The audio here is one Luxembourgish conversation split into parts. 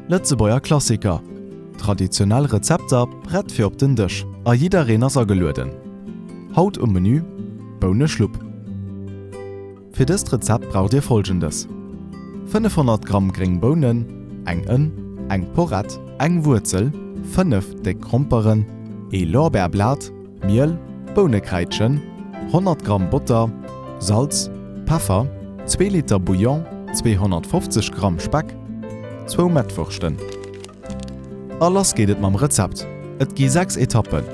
Lëtzebuerger Klassiker, traditionell Rezepter prett fir op den Dësch a jiddereen ass agelueden! Haut um Menü, Bouneschlupp. Fir dëst Rezept braucht dir folgendes, 500 Gramm gréng Bounen, eng Ënn, eng Porett, eng Wuerzel, 5 déck Gromperen, ee Lorbeerblat, Miel, Bounekräidchen, 100 Gramm Botter, Salz, Peffer, zwee Liter Bouillon, 250 Gramm Speck, zwou Mettwurschten. A lass geet et mam Rezept! Et gi 6 Etappen,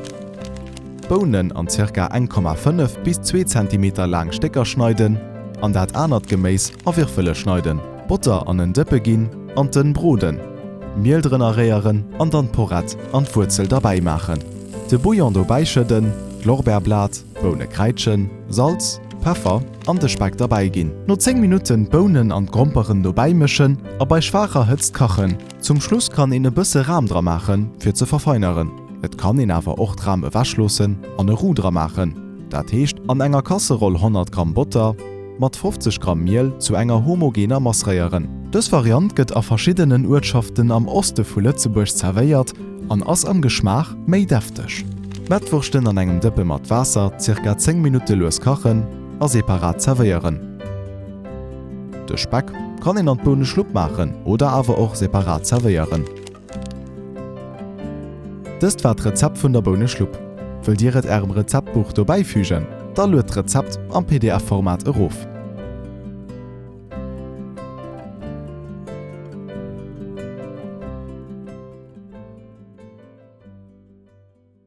D'Bounen an ca. 1,5 bis 2 Zentimeter laang Stécker schneiden an dat anert Geméis a Wirfele schneiden. Botter an en Dëppe ginn an d'Ënn broden. D'Miel drënner réieren an dann d'Porrett an d'Wuerzel derbäi maachen. De Bouillon dobäi schëdden, d'Lorbeerblat, d'Boune kräitschen, Salz, Peffer an de Speck derbäi ginn. No 10 Minutten d'Bounen an d'Gromperen dobäi mëschen a bei schwaacher Hëtzt kachen. Zum Schluss kann een e bësse Ram dra maachen fir ze verfeineren. Et kann een awer och d'Ram ewech loossen an e Roux dra maachen, dat heescht an enger Kasseroll 100 Gramm Botter, Mat 50 Gramm Miel zu enger homogener Mass réieren. Dës Variant gëtt a verschiddenen Uertschaften am Oste vu Lëtzebuerg zerwéiert an ass am Geschmaach méi defteg. D'Mettwurschten an engem Dëppe mat Waasser zirka 10 Minutte lues kachen a separat zerwéieren. De Speck kann een an d'Bouneschlupp maachen oder awer och separat zerwéieren. Dëst war d'Rezept vun der Bouneschlupp. Wëllt Dir et Ärem Rezeptbuch dobäi fügen? Da lued d'Rezept am PDF-Format erof.